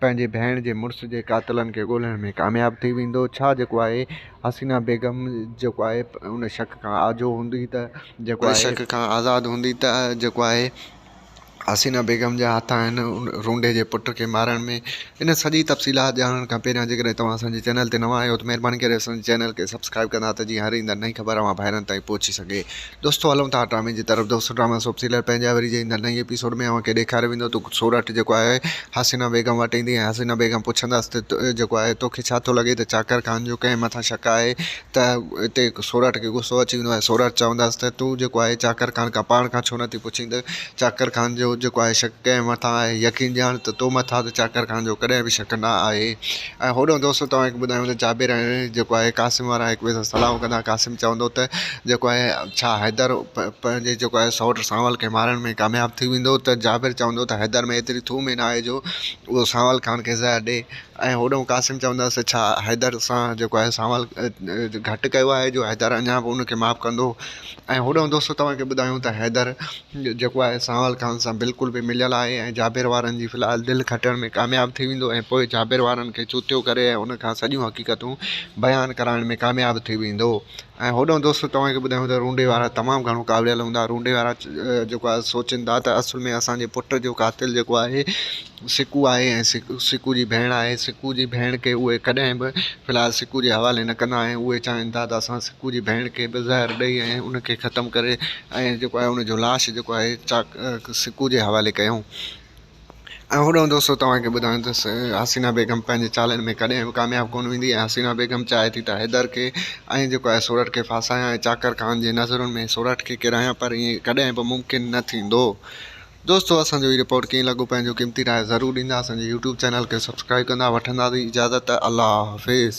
پنهنجي ڀيڻ جي مڙس جي قاتلن کي ڳولڻ ۾ ڪامياب ٿي ويندو ڇا جيڪو آهي حسينا بيگم جيڪو آهي ان شڪ کان آجو هوندي ته جيڪو آهي شڪ کان آزاد هوندي ته جيڪو آهي حسينا بيگم جا هٿ آهن ان رونڊي جي پٽ کي مارڻ ۾ ان سڄي تفصيلات ڄاڻڻ کان پهريان جيڪڏهن توهان اسانجي چينل تي نوان آهيو ته مهرباني ڪري اسانجي چينل کي سبسڪرائب ڪندا ته جيئن هر ايندڙ نئين خبر اوهان ڀائرن تائين پهچي سگهي دوستو هلون ٿا ڊرامي جي طرف دوستو ڊرامي سوپ سيريل پنهنجا وري جي ايندڙ نئين ايپيسوڊ ۾ اوهان کي ڏيکاريو ويندو ته سورٺ جيڪو آهي حسينا بيگم وٽ ايندي ۽ حسينا بيگم پڇندس ته جيڪو آهي توکي ڇا ٿو لڳي ته چاڪر خان جو ڪنهن مٿان شڪ آهي ته اتي سورٺ کي غصو اچي ويندو ۽ سورٺ چوندس ته تون جيڪو آهي چاڪر خان کان پاڻ کان ڇو نٿي پڇين ته چاڪر خان جو جيڪو آهي شڪ ڪنهن مٿان آهي يقين ڄاڻ ته تو مٿان ته چاڪر خان جو ڪڏهن به شڪ نه آهي ۽ هوڏانهن دوستو توهان کي ٻڌايون ته جابر ۽ جيڪو آهي قاسم وارا هڪ ٻئي سان صلاحون ڪندا قاسم چوندو ته جيڪو آهي ڇا حيدر پنهنجي جيڪو آهي سئوٽ سانول کي مارڻ ۾ ڪامياب ٿي ويندو ته جابر چوندو ته حيدر ۾ ايتري ٿوم ئي ناهي جو اهو سانول خان کي زهر ڏئي ۽ هوڏانهن قاسم چوندو ته ڇا حيدر سان جيڪو آهي سانول گهٽ ڪيو آهي جو حيدر اڃا به ان کي معاف ڪندو ۽ هوڏانهن دوستو توهان کي ٻڌايون ته حيدر جيڪو آهي سانول خان سان بلڪل به مليل آهي ۽ جابر وارن جي في الحال دل کٽڻ ۾ ڪامياب ٿي ويندو ۽ پوء جابر وارن کي چوتيو ڪري ۽ ان کان سڄيون حقيقتون بيان ڪرائڻ ۾ ڪامياب ٿي ويندو ۽ هوڏانهن دوستو توهان کي ٻڌايون ته رونڊي وارا تمام گهڻو ڪاوڙيل هوندا رونڊي وارا جيڪو آهي سوچين ٿا ته اصل ۾ اسان جي پٽ جو قاتل جيڪو آهي سڪو آهي ۽ سڪو جي ڀيڻ آهي سڪو جي ڀيڻ کي اهي ڪڏهن به في الحال سڪو جي حوالي نه ڪندا ۽ اهي چاهين ٿا ته اسان سڪو جي ڀيڻ کي به زهر ڏئي ۽ ان کي ختم ڪري ۽ جيڪو آهي ان جو لاش جيڪو آهي چاڪ سڪو جي حوالي ڪيون ۽ هوڏانهن دوستو توهان کي ٻڌايان ته حسينا بيگم پنهنجي چالن ۾ ڪڏهن به ڪامياب ڪونه ويندي ۽ حسينا بيگم چاهي ٿي ته حيدر کي ۽ جيڪو آهي سورٺ کي ڦاسايان ۽ چاڪر خان جي نظرن ۾ سورٺ کي ڪيرايان پر ايئن ڪڏهن به ممڪن نه ٿيندو دوستو اسان جو هي رپورٽ ڪيئن لڳو پنهنجو قيمتي راء ضرور ڏيندا اسان جي يوٽيوب چينل کي سبسڪرائب ڪندا وٺندا سين اجازت الله حافظ